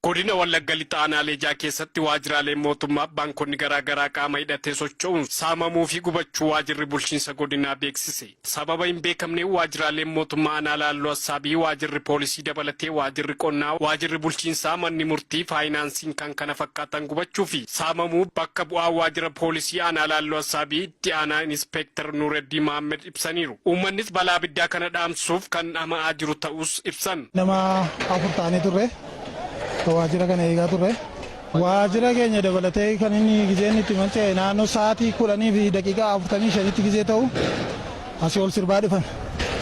Godina Wallagga Lixa Aanaalee ja'a keessatti waajjiraaleen mootummaa baankonni garaa garaa qaama hidhatee socho'uun saamamuu fi gubachuu waajjirri bulchiinsa godinaa beeksise. Sababa hin beekamneen waajjiraaleen mootummaa aanaa Laalloo Assaabii, waajjirri poolisii dabalatee waajjirri qonnaa, waajjirri bulchiinsaa, manni murtii, faayinaansiin kan kana fakkaatan gubachuu fi saamamuu bakka bu'aa waajjira poolisii aanaa Laalloo Assaabii itti aanaa Inispeektar Nuureddii Mahammed ibsaniiru. Uummannis balaa abiddaa kana dhaamsuuf kan dhama'aa jiru ta'uus ibsan. Nama afur taanee turre. Kan waajjira kana eegaa turre. Waajjira keenya dabalatee kan inni gizeen itti manca'e naannoo sa'aatii 10:45tti gizee ta'u asii ol sirbaa dhufan.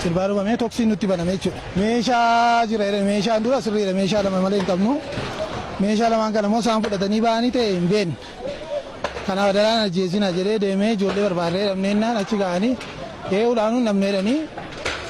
Sirbaa dhufamee toksiin nutti baname jechuudha. Meeshaa jira jedhan meeshaan dura sirriidha meeshaa lama malee hin qabnu. Meeshaa lamaan kanammoo isaan fudhatanii ba'anii ta'e hin beeknu. Kanaaf adaraa hin ajjeesinaa jedhee deemee ijoollee barbaadnee dhabnee jennaan achi ga'anii ee'uu dhaanuu hin dhabne jedhanii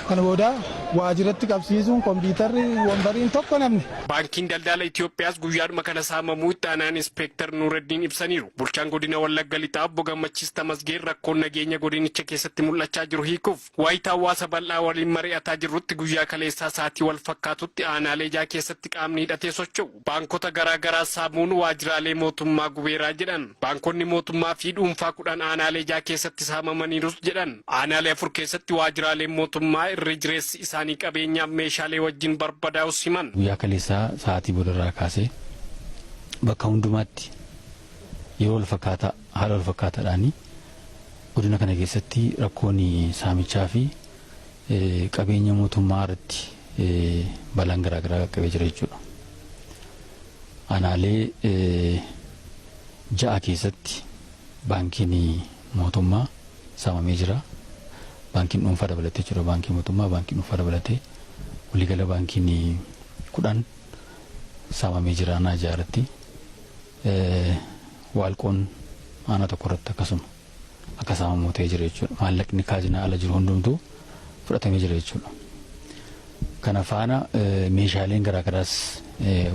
kana booda waajiratti qabsiisuun kompiitarri wonbariin tokko hin hafne. Baankiin Daldala Itiyoophiyaas guyyaadhuma kana saamamuu Itti Aanaan Inspeektar Nuuraddiin ibsaniiru. Bulchaan Godina Wallagga Lixaa Obbo Gammachiis Tamasgeen rakkoon nageenya godinicha keessatti mul'achaa jiru hiikuuf. Waayita hawaasa bal'aa waliin mari'ataa jirrutti guyyaa kaleessaa sa'aatii walfakkaatutti aanaalee ja'a keessatti qaamni hidhatee socho'u baankota garaa garaa saamuun waajjiraalee mootummaa gubeeraa jedhan. Baankonni mootummaa fi dhuunfaa kudhan aanaalee ja'a keessatti saamamaniirus jedhan. Aanaalee afur keessatti waajjiraaleen mootummaa irri jireessi isaanii qabeenyaaf meeshaalee wajjin barbadaa'us himan. Guyyaa kaleessaa sa'aatii boodarraa kaasee bakka hundumaatti yeroo walfakkaataa. Haala walfakkaataadhaan godina kana keessatti rakkoon saamichaa fi qabeenya mootummaa irratti balaan garaagaraa qaqqabee jira jechuudha. Aanaalee ja'a keessatti baankiin mootummaa saamamee jira. Baankiin dhuunfaa dabalatee jechuudha. Baankii mootummaa, baankii dhuunfaa dabalatee waliigala baankiin kudhan saamamee jira aanaa ja'a irratti. Waalqoon aanaa tokko irratti akkasuma akka saamamu ta'ee jira jechuudha. Maallaqni kaazinaa ala jiru hundumtuu fudhatamee jira jechuudha. Kana faana meeshaaleen garaagaraas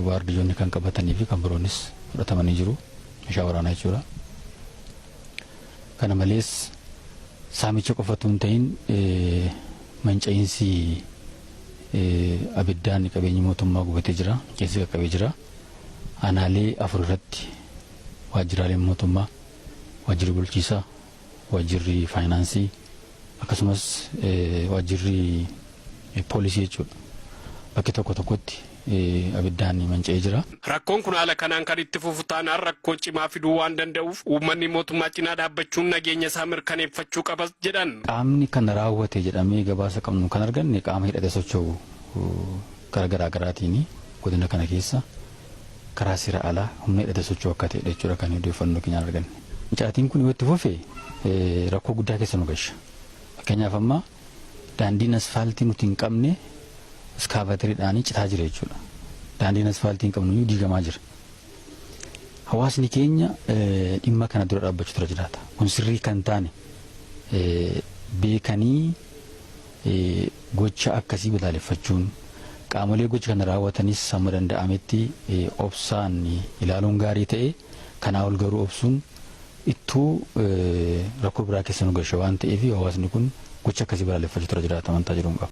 waardiyoonni kan qabatanii fi kan biroonis fudhatamanii jiru. Meeshaa waraanaa jechuudha. Kana malees saamicha qofatu hin ta'in manca'iinsi abiddaan qabeenyi mootummaa gubatee jira. Keessi qaqqabee jira. Aanaalee afur irratti waajjiraaleen mootummaa, waajjirri bulchiisaa, waajjirri faayinaansii akkasumas waajjirri poolisii jechuudha bakki tokko tokkotti abiddaan manca'ee jira. Rakkoon kun haala kanaan kan itti fufu taanaan rakkoo cimaa fiduu waan danda'uuf uummanni mootummaa cinaa dhaabbachuun nageenya isaa mirkaneeffachuu qabas jedhan. Qaamni kana raawwate jedhamee gabaasa qabnu kan arganne qaama hidhatee socho'u. Karaa garaa garaatiin godina kana keessa karaa seera alaa humna hidhate socho'u akka ta'edha jechuudha kan odeeffannoo keenyaan arganne. Mucaatiin kun yoo itti fufe rakkoo guddaa keessa nu gasha. Fakkeenyaaf amma daandiin asfaaltii nuti hin qabne iskaavaatariidhaan citaa jira jechuudha. Daandiin asfaaltii hin qabnu diigamaa jira. Hawaasni keenya dhimma kana dura dhaabbachuu dura jiraata. Kun sirrii kan taane beekanii Gocha akkasii balaaleffachuun, qaamolee gocha kana raawwatanis hamma danda'ametti obsaan ilaaluun gaarii ta'ee, kanaa ol garuu obsuun ittuu rakkoo biraa keessa nu gasha waan ta'eef hawaasni kun gocha akkasii balaaleffachuutu irra jiraata amantaa jedhuun qaba.